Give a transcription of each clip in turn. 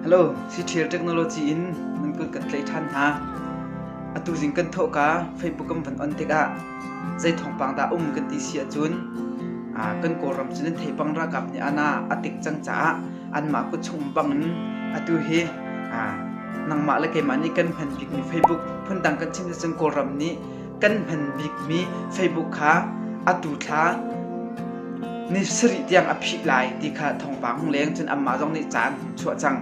Hello, Cithil Technology in nan kut kan tlaih ṭhan hna. Atu zing kan thawhka Facebook kan van on tikah zei thawngpang dah um kan ti si ahcun ah, kan Kawlram cu nan thei bang ralkap nih ana a tik cang caah anmah kut chung bang in atu hi ah, nangmah le keimah nih kan hman bikmi Facebook phundang kan chim ahcun Kawlram nih kan hman bikmi Facebook kha atu thla ni sarih tiang a phih lai ti kha thawngpang hung leng cun amah zong nih caan hung chuah cang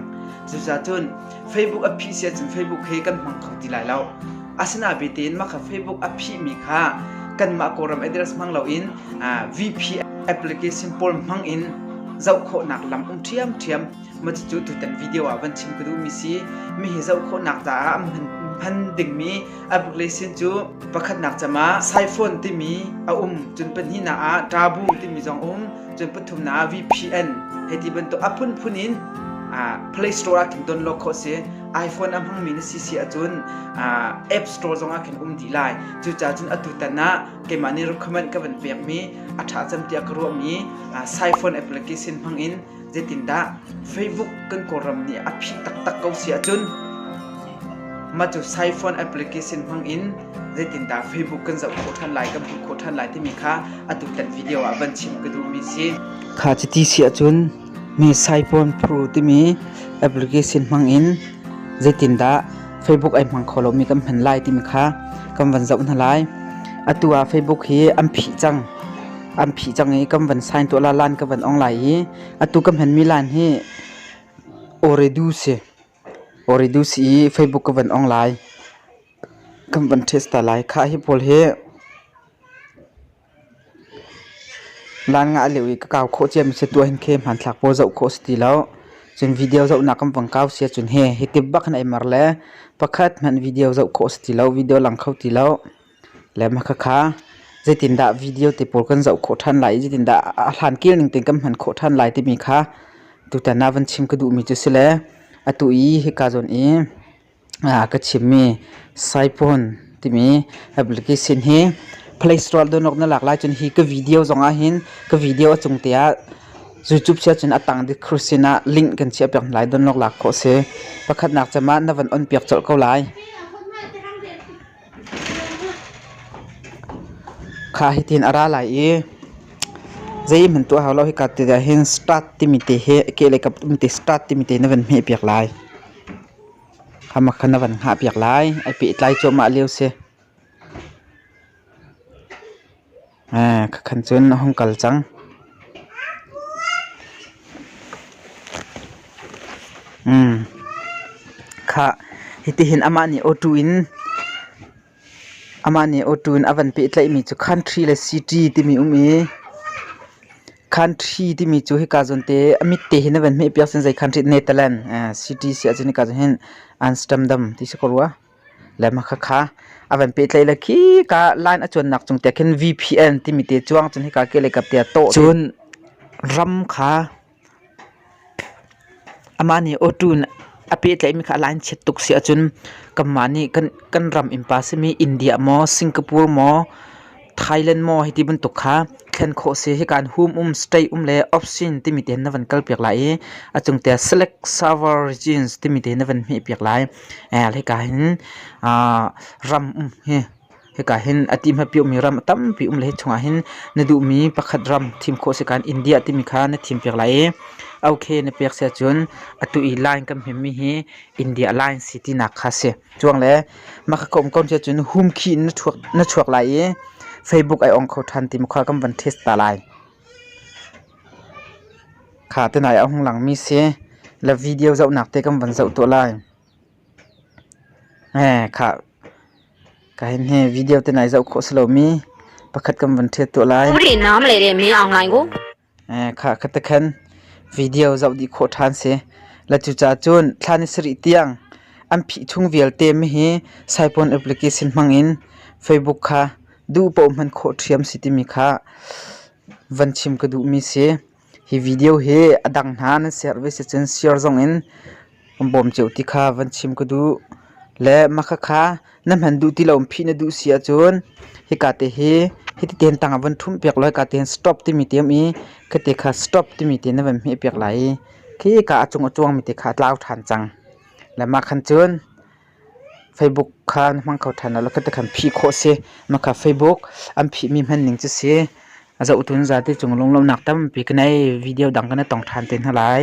cuzacun Facebook a phih si ahcun Facebook he kan hmang kho ti lai lo asina be tein mah kha Facebook a phihmi kha kanmah kawlram address hmang loin VP application pawl hmang in zoh khawhnak lam um ṭhiam ṭhiam ma cucu tutan video ah van chim ka duhmi si mi hi zoh khawhnak caah hman dingmi a biklei sin cu pakhatnak cam ah siphone timi a um cun pahnihnak ah ṭabu timi zong um cun pathumnak ah VPN hei ti bantuk a phunphun in Play Store ah khin don lawk khawh si iPhone a hmangmi na si si ahcun App Store zong ah khin um dih lai cucaah cun atu tan ah keimah nih recommend ka van pekmi a ṭha cem tiah ka ruahmi siphone application hmang in Zeitindah Facebook kan Kawlram nih a phih taktak ko si ahcun mah cu Siphone application hmang in zeitindah Facebook kan zoh khawh ṭhan lai, kan hmuh khawh ṭhan lai timi kha atutan video ah van chim ka duhmi si. Kha cuti si ahcun mi Siphone Pro timi application hmang in zeitindah Facebook ai hmang kho lomi kan hman lai timi kha kan van zoh hna lai. Atu ah Facebook hi an phih cang. an phih cang i kan van sign tuah la lan ka van ong lai i atu ka hmanmi lan hi Oreduce Oreduce i Facebook ka van ong lai kan van test ta lai kha hi pawl hi lan nga leu i ka kau khawh ciam se tua hin khe hman thlak po zau khawh si ti lo cun video zau nak kan vang kau sia cun he hi tip bak han ai mar le pakhat hman video zau khawh si ti lo video lang kho ti lo Khakha zeitindah video te pawl kan zoh khawh ṭhan lai i zeitindah a hlan kil ning tein kan hman khawh ṭhan lai timi kha tutan ah van chim ka duhmi cu si le atu i hika zawn i ka chimmi Saiphone timi application hi Play Store download na lak lai cun hi ka video zong ah hin ka video a cung te ah YouTube si ahcun a tang kru sin ah link kan chiah piak hna lai download lak khawh a si. Pakhatnak cem ah na van on piak colh ko lai. Kha hi tin a ra lai i zeihmanh tuah hau lo hika ti ah hin start timi te hi a kehlei kap timi te start timi te na van hmeh piak lai. Khama khan na van hngah piak lai ai pehtlai cuahmah lio si. Khakhan cun a hung kal cang. Khah, hitihin amah nih auto in amah nih auto in a van pehtlaihmi cu country le city timi um i country timi cu hika zawn te a mit te hin a van hmehpiak cun zei country? Netherland city si ahcun hika zawn hin Amsterdam ti si ko rua. le makhakha a van pehtlaih le khi ka line a cuannak cung te khin VPN timi te chuang cun hika ke le kap te to cun ram kha ama nih auto a pehtlaih mi kha line chiat tuk si ahcun kanmah nih kan kan ram in pa simi India maw Singapore maw Thailand maw hiti bantuk kha thlen khawh si hi kaan hum um stay um le option timi te na van kal piak lai i a cung te select server regions timi te na van hmeh piak lai lehka hin ram um hi hika hin a ti hmapi mi ram a tampi um le hi chungah hin na duhmi pakhat ram thim khawh si kan India timi kha na thim piak lai i okay na pek sia cun atu i line kan hmemmi hi India line si tinak kha si Cuang le maka ka um ko cia cun hum khi in na chuak na chuak lai i Facebook ai ong kho ṭhan ti makhua kan van test ta lai. Kha tenai a hung langmi si la video zohnak te kan van zoh tuah lai. Eh kha ka hin he video tenai zoh khawh si lomi pakhat kan van ṭhiat tuah lai. Muri nam le re mi online go. Kha ka ti khan video zoh dih khawh ṭhan si. La cucaah cun thla ni sarih tiang an phih chung vialte mi hi Saipawn application hmangin Facebook kha duh paoh hman khawh ṭhiam si timi kha van chim ka duhmi si. Hi video hi a dang hna nan share ve si cun share zongin Kan bawm cio ti kha van chim ka duh. Le mahka kha na hman duh ti lo in phih na duh si ahcun hika te hi hiti tehin tang ah van ṭhumh piak law hika tehin stop timi te um i khite kha stop timi te na van hmeh piak lai i khi hika a cung a cuangmi te kha a tlau ṭhan cang. Le mah khan cun Facebook kha na hmang kho ṭhan law khate khan phih khawh si. Mahka Facebook an phihmi hmanning cu si zohtu zate cung lunglawmhnak tampi ka nei. Video dang ka na tong ṭhan te hna lai.